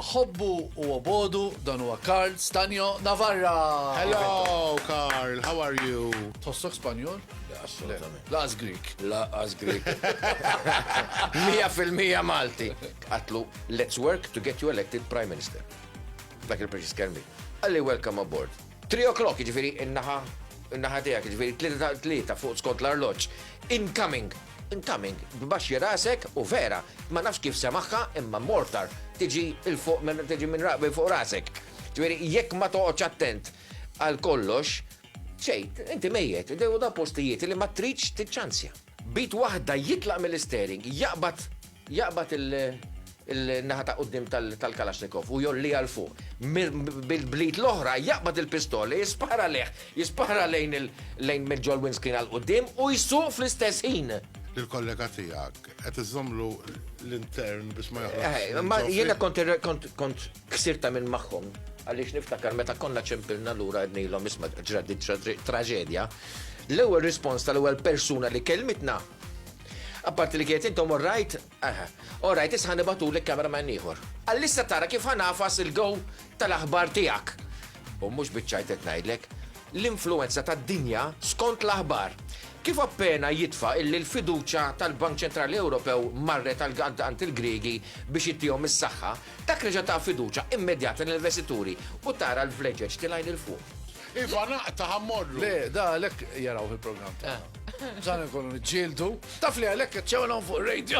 ħobbu u obodu dan huwa Karl Stanjo Navarra. Hello, Karl, how are you? Tossok Spanjol? Assolutament. Laqas Greek. Laqas Greek. Mija fil-mija Malti. Għatlu Let's work to get you elected Prime Minister. Dak il-preċiż kelm hi. Qalli welcome aboard. Three o'clock, jiġifieri in-naħa in-naħa tiegħek, jiġifieri tlieta ta' tlieta fuq skont l-arloġġ. Incoming! Incoming, b'baxxi rasek u vera, ma nafx kif semaħħa imma mortar tiġi il fuq minn tiġi minn raqbi fuq rasek. Ġifieri jekk ma toqgħodx attent għal kollox, xejn, inti mejjet, u da postijiet li ma tridx tiċċanzja. B'id waħda jitlaq mill-isteering, jaqbad jaqbad il-naħa ta' quddiem tal-Kalashnikov u jgħolliha 'l fuq. Bl-id l-oħra jaqbad il-pistola, jispara lejh, jispara lejn mill-ġol-windscreen għal quddiem u jsuq fl-istess ħin. Lill-kollega tiegħek, qed iżżommlu l-intern biex ma joħroġx minn ġo fih? Jiena kont Ħsirt għamilt magħhom għaliex niftakar meta konna ċempilna lura għednilhom isma' ġrat din traġedja. L-ewwel rispons tal-ewwel persuna li kelmitna Apparti li kienet intom orrajt, orrajt isħan ibatu li kamera ma' ieħor. Għallissa tara kif ħanafas il-gow tal-aħbar tiegħek. U mhux biċċajt qed ngħidlek, l-influenza tad-dinja skont l-aħbar. Kif appena jitfa illi l-fiduċa tal-Bank Ċentrali Ewropew marret għal għand il-Griegi biex ittihom is-saħħa, Dak reġa' ta fiduċja immedjata lill-investituri u tara l-vleġeġ tilgħin 'il fuq. Iva naqta' ħa mmorru. Le, da għalhekk jarawh il-programm tagħna. Bżonn inkunu niġġieldu. Taf li għalhekk qed txewen hawn fuq ir-radio.